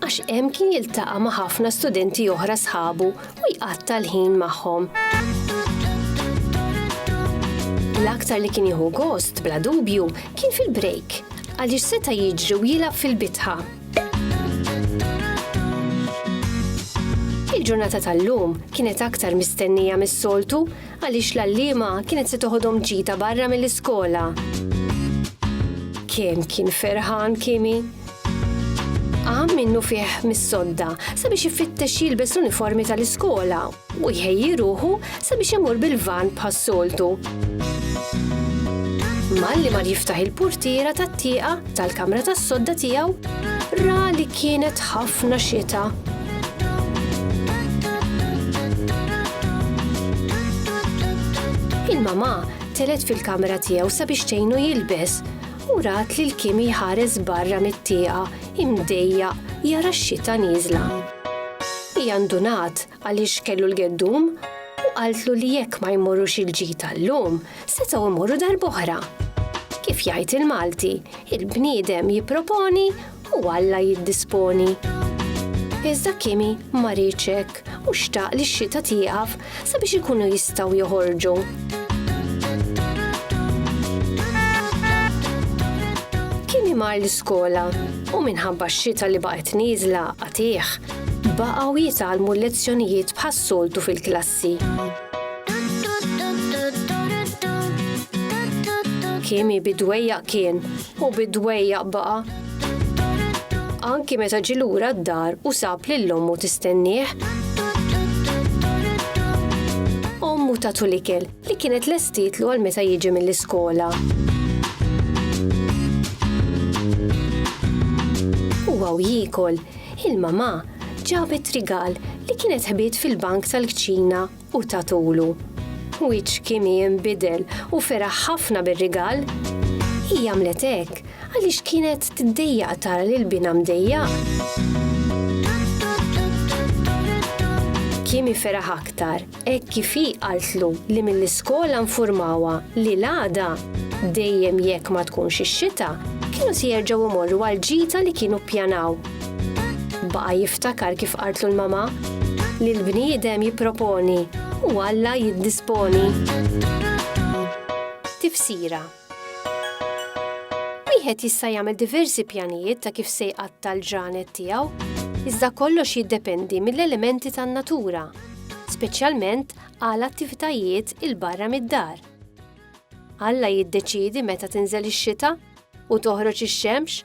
għax hemm kien jiltaqa' ma' ħafna studenti oħra sħabu u jqatta' l-ħin magħhom. L-aktar li kien jieħu gost, bla dubju, kien fil-break, għaliex seta' jiġri u jilgħab fil-bitħa. Il-ġurnata tal-lum kienet aktar mistennija mis-soltu Għaliex l-għalliema kienet se toħodhom ġita barra mill-iskola. Kemm kien ferħan Kimi! Qam minnu fih mis-sodda sabiex ifittex jilbes l-uniformi tal-iskola u jħejji ruħu sabiex imur bil-van bħas-soltu. Malli mar jiftaħ il-purtiera tat-tieqa, tal-kamra tas-sodda tiegħu ra li kienet ħafna xita. Il-mama telet fil-kamra tiegħu sabiex tgħinu jilbes u rat li l-kim jħares barra mit-tieqa imdejja jara x-xita nieżla. Hija ndunat għaliex kellu l-geddum, u qaltlu li jekk ma jmorrux il-ġid tal-lum, setgħu jmorru darb'oħra. Kif jgħid il-Malti, il-bniedem jipproponi u Alla jiddisponi. Iżda Kimi ma riedx hekk u xtaq li x-xita tieqaf sabiex ikunu jistgħu joħorġu. Kimi mar l-iskola u minħabba x-xita li baqgħet nieżla qatiegħ, Baqgħu jitgħallmu l-lezzjonijiet bħas-soltu fil-klassi. Kimi bi dwejjaq kien u bi dwejjaq baqa'. Anki meta ġie lura d-dar u sab lil ommu tistennieh. Ommu tatu l-ikel li kienet lestietlu għal meta jiġi mill-iskola. Huwa u jiekol Il-mamà ġabet rigal li kienet ħbiet fil-bank tal-kċina u tatulu. Wiċċ Kimi inbidel u feraħ ħafna bir-rigal. Hi għamlet hekk għaliex kienet tiddejjaq tara lil binha mdejjaq. Kimi feraħ aktar. hekk kif hi qaltlu li mill-iskola nfurmawha li l-għada, dejjem jekk ma tkunx ix-xita, kienu se jerġgħu jmorru għall-ġita li kienu ppjanaw. Baqa' jiftakar kif qaltlu l-mama li l-bniedem jipproponi u Alla jiddisponi. Tifsira. Wieħed jista' jagħmel diversi pjanijiet ta' kif se jqatta' l-ġranet tiegħu, iżda kollox jiddependi mill-elementi tan-natura, speċjalment għal attivitajiet 'il barra mid-dar. Alla jiddeċiedi meta tinżel ix-xita u toħroġ ix-xemx